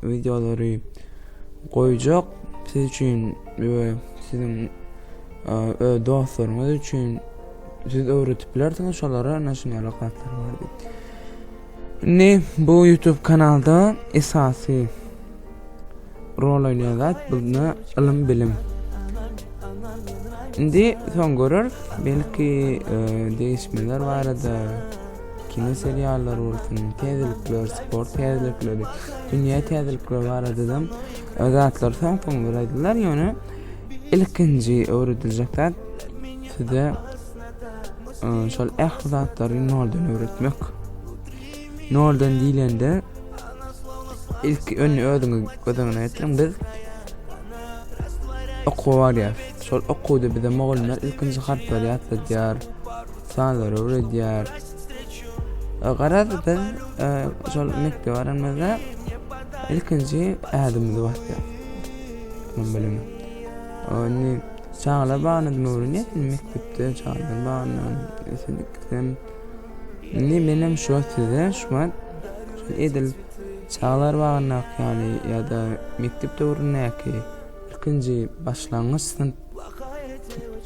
Wideolary goýjak siz üçin we siziň öz dostlaryňyz üçin siz öwretip bilersiňiz şolara naşinýara kartlar bar diýip. Indi bu YouTube kanalda esasy rol oýnaýan zat bunda ylym bilim. Indi soň görür belki e, değişmeler barada kino seriallary bolsun, täzelikler, sport täzelikleri, dünýä täzelikleri barada-da zatlar soň-soň bir aýdylýar, ýöne ilkinji öwrediljek zat size şol ähli zatlary noldan öwretmek. Noldan diýlende ilk öňi özüňiz göz öňüne getiriň. Biz okuwa barýar. Şol okuwda bize mugallymlar ilkinji harplary ýatladýar. Sanlar öwredýär. E, garaz biz e, şol mekdebe baranymyzda ilkinji ädimimizi basýar. Şonuň bilen. Ony çagalar bagyna dym öwrenýär, mekdepde çagalar bagyna ösünikden. Indi men hem şu size şu wagt edil çagalar bagyndaky ýaly ýa-da mekdep döwründäki ilkinji başlangyç synp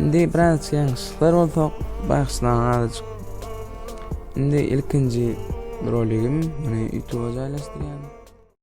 Indi biraz ýalňyşlyklar bolsa bagşylaň azajyk. Indi ilkinji roligim, muny YouTube-a jaýlaşdyrýan.